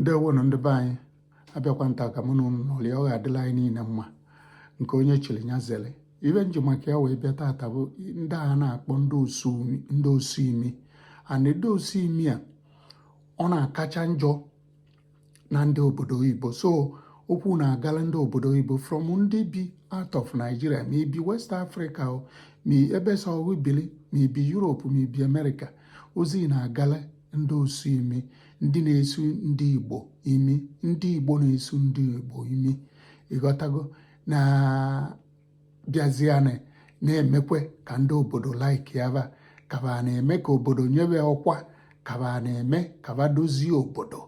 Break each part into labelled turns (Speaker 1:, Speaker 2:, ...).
Speaker 1: ndewonụ ndị be anyị abịakwa m taa ka mụ na ụnụ nọrịa ọ ga-adịlị anyị niile mma nke onye chiri ya zere ive m ji maka ya wee bịa tata bụ ndị a na-akpọ ndị osu imi and ndị osu imi a ọ na-akacha njọ na ndị obodo oyibo so okwu na-agala ndị obodo oyibo from ndị bi out of Nigeria ma i bi West Africa ma ebe sọ bili ma i bi Europe ma i bi America ozi na-agala ndị osu imi ndị na-esu ndị Igbo imi ndị Igbo na-esu ndị Igbo imi ị ghọtago na bịazianị na-emekwe ka ndị obodo likea va ka va na-eme ka obodo nye va ọkwa ka va na-eme ka va dozie obodo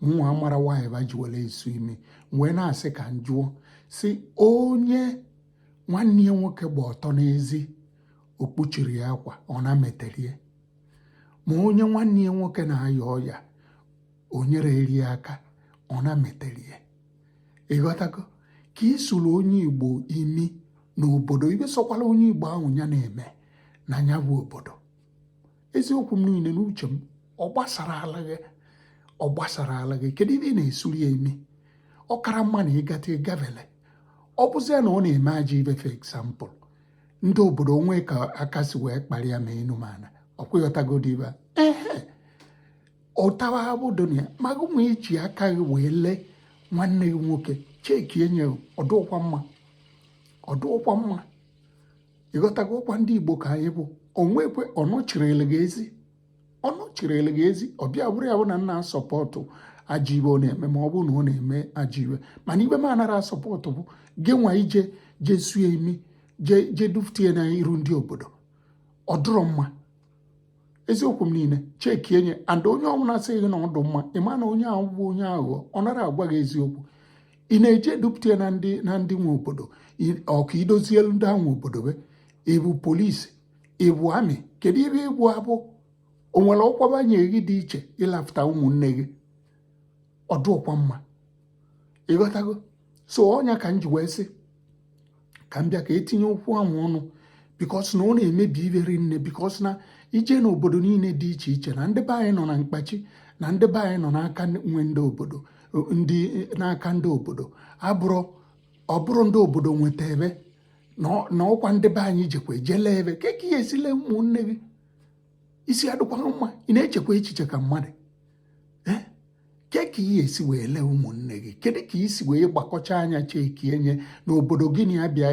Speaker 1: mụnwa mara nwaanyị va ji were esu imi wee na-asị ka m jụọ sị onye nwanne ya nwoke gba ọtọ n'ezi o kpuchiri ya akwa ọ na metere ya ma onye nwanne ya nwoke na-aya ọya o nyerere ya aka ọ na metere ya ị ghọtago ka i suru onye Igbo imi n'obodo ive sọkwala onye Igbo ahụ ya na-eme na ya bụ obodo eziokwu m niile n'uche m ọ gbasarala gị ọ gbasarala gị kedu ive ị na-esuru ya imi ọ kara mma na ị gata ị gavele ọ bụzia na ọ na-eme ajọ ive for example ndị obodo o nwee ka aka si wee kpara ya ma enu ma ana ọkwa ịghọtagodi ibe ehe ụtawa abụdo na ya ma gịnwa iji aka gị wee lee nwanne gị nwoke checkienụ ya ọ dụrọkwa mma ọ dụrọkwa mma ị ghọtago ọkwa ndị Igbo ka anyị bụ o nwekwe ọ nọchirili gị ezi ọ nọchirili gị ezi ọ bịa bụrụ ya bụ na m na-asupport ajọ ive ọ na-eme ma ọ bụrụ na ọ na-eme ajọ ive mana ive m anara asupport bụ gịnwa ije je suo imi jee dupụta ya na iru ndị obodo ọ dụrọ mma eziokwu m niile checkienụ ya and onye ọwụna sị gị na ọ dụ mma ị ma na onye ahụ bụ onye aghụghọ ọ nara agwa gị eziokwu ị na-eje edupụta ya na ndị na ndị nwe obodo ọ ka i dozielu ndị ahụ obodo va ị bụ police ị bụ army kedu ive ị bụ abụ o nwere ọkwa va nye gị dị iche ị lafụta ụmụnne gị ọ dụrọkwa mma ị ghọtago so ọ ya ka m ji wee sị ka m bịa ka e tinye okwu ahụ ọnụ because na ọ na-emebi ive rinne because na i je na obodo niile dị iche iche na ndị be anyị nọ na mkpachi na ndị be anyị nọ n'aka nwe ndị obodo ndị n'aka ndị obodo ọ bụrọ ndị obodo nweta va na ọkwa ndị be anyị jekwa eje lee va kee ka ị ya-esi lee ụmụnne gị isi adịkwa gị mma ị na-echekwa echiche ka mmadụ eh? kee ka ị ya-esi wee lee ụmụnne gị kedu ka i si wee gbakọcha anya checkienụ ya n'obodo gị na ya bịa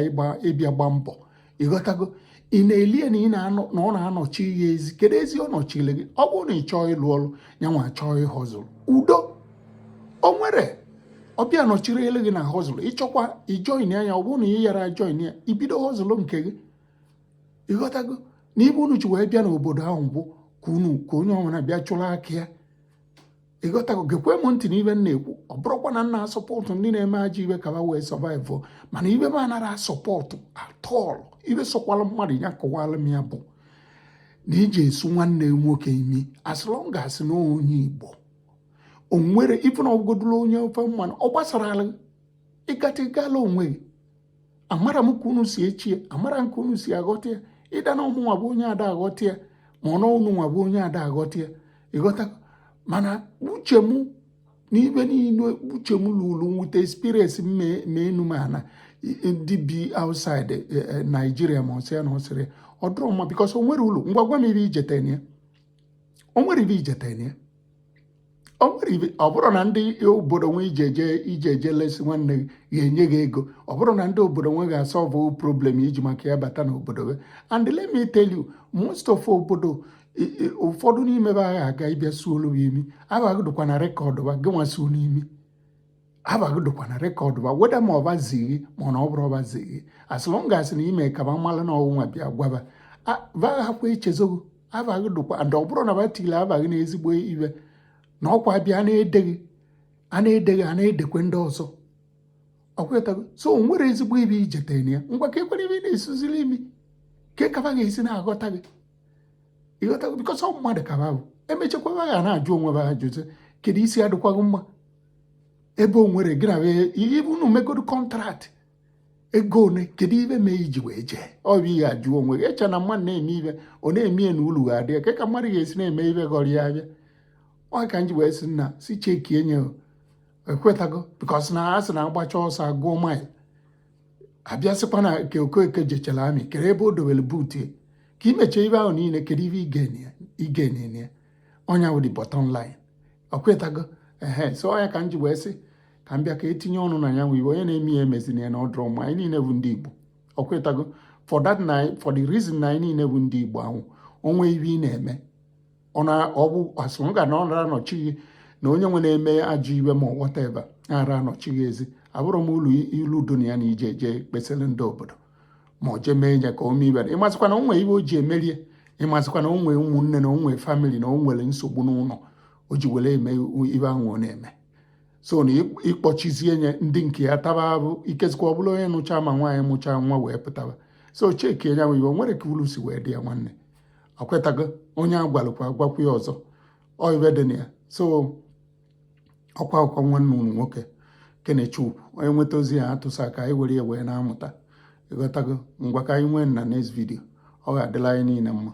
Speaker 1: ịbịa gba mbọ ị ghọtago ị na-elie na ị na-anọ na ọ na-anọchi ya ezi kedu ezi ọ nọchile gị ọ bụrụ na ị chọọ ịlụ ọrụ ya nwa chọọ ịhustle udo o nwere ọ bịa nọchiri elu gị na hustle ị chọkwa ijoin ya ya ọ bụrụ na ị yara join ya i bido hustle nke gị ịghọtago na ibe unu ji wee bịa n'obodo ahụ bụ ka unu ka onye ọbụla bịa chụrụ aka ya ịghọtago gekwe m ntị n'ibe m na-ekwu ọ bụrọkwa na m na-asupport ndị na-eme ajọ ibe ka ha wee survive mana ibe m anara asupport at all ibe sọkwala mmadụ ya kọwala m ya bụ na iji esu nwanne nwoke imi as long as na onye igbo o nwere even ọ bụgodu na onye ofe mmanụ ọ gbasara ala ịgata ịgala onwe amara m ka unu si echie amara m ka unu si aghọta ya ịda na ọ mụnwa bụ onye ada aghọta ya ma ọ na ọ unu nwa bụ onye ada aghọta ya ịghọta mana uche m n'ibe niile uche m lụrụ nwete experience m mee enu m ana ndị bi outside e, e, Nigeria ma ọsị ya na ọsịrị ọ dịrọ mma because o nwere ulu ngwa gwa m ibe ijetene ya o nwere ibe ijetene ya ọ bụrọ na ndị obodo nwe i je eje lesi nwanne gị ga-enye gị ego ọ bụrọ na ndị obodo nwe ga-asolve problem i ji maka ya bata n'obodo ha and let me tell you most of obodo ụfọdụ n'ime ha agha aga ị bịa suolu ha imi aba gị dịkwa na record ha gị nwa suo n'imi aba gị dịkwa na record ba whether ma ọ ba zii gị ma ọ na ọ bụrọ ba zii gị as long as na i mee ka ba malụ na ọnwụnwa bịa gwa ba ba aghakwa echezọ gị aba gị dịkwa and ọ bụrụ na ba tinye aba gị na ezigbo ibe na ọkwa ebe a na-edeghị a na-edeghị a na-edekwe ndị ọzọ ọkwetago so o nwere ezigbo ibe ijetere na ya ngwa ka ekwere ibe ị na-esuziri imi ka e ka ba ga-esi na-aghọta gị ịghọtago because ọ mmadụ ka ba bụ emechakwa ha na-ajụ onwe ha ajụjụ kedu isi adịkwaghị mma ebe o nwere gị na ihe unu megodo contract ego one kedu ibe mee iji wee jee ọ bụ ihe ajụ onwe gị eche na mmadụ na-eme ibe ọ na-eme ya na ulu ga-adị ya ka mmadụ ga-esi na-eme ibe gọrọ ya abịa ọ ka m ji wee sị nna si cheki enye ekwetago bikos na a sị na a gbachaa ọsọ a gụọ mile a bịa sịkwa na ka Okeke jechara army kedu ebe o dowere boot ka i mechie ibe ahụ niile kedu ibe igenye ya ọnya wụ the bottom line ọkwetago ehe so ọnya ka m ji wee sị ka m bịa ka etinye ọnụ na ya nwe ibe onye na-eme ya emezina ya na ọ dịrọ mma anyị niile bụ ndị Igbo ọkwetago for that na for the reason na anyị niile bụ ndị Igbo ahụ o nwee ibe ị na-eme ọ na ọ bụ asụrụ ga na ọ nara anọchi gị na onye nwe na-eme ajọ ibe ma whatever ara anọchi gị ezi afụrọ m ulu dị na ya na i je eje kpesara ndị obodo ma ọ jee mee ya ka o mee ibe ịmasịkwa na o nwee ibe o ji emerie ịmasịkwa na o nwee ụmụnne na o nwee family na o nwere nsogbu n'ụlọ o ji were eme ibe ahụ ọ na-eme so na ịkpọchizie nye ndị nke ya taba abụ ikezikwa ọ bụla onye mụcha ma nwaanyị mụcha nwa wee pụtaba so check ya nwe iwe o nwere ka ulu si wee dị ya nwanne ịghọtago onye agwalụ ka agwakwu ya ọzọ ọ ibe dị na ya so ọkwa akụkọ nwanne unu nwoke Kenechukwu onye nweta ozi ya atụsa ka anyị were ya wee na-amụta ịghọtago ngwa ka anyị nwee na next video ọ ga-adịla anyị niile mma